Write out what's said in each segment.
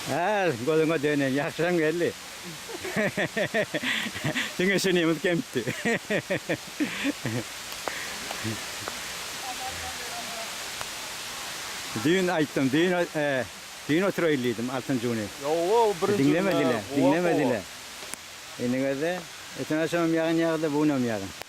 Äl gözüňe döneýin ýagşyraň geldi. Diňe şu nemes kemdi. Düýn aýtdym, düýn düýn oturaýyl diýdim altyn juny. Diňlemediler, diňlemediler. Indi görde, öten agşamam ýagyn ýagdy, bu günem ýagyn.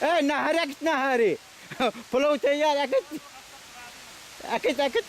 Eý, nahar äkit, nahary! Pulaw teýýar, äkit! Äkit, äkit!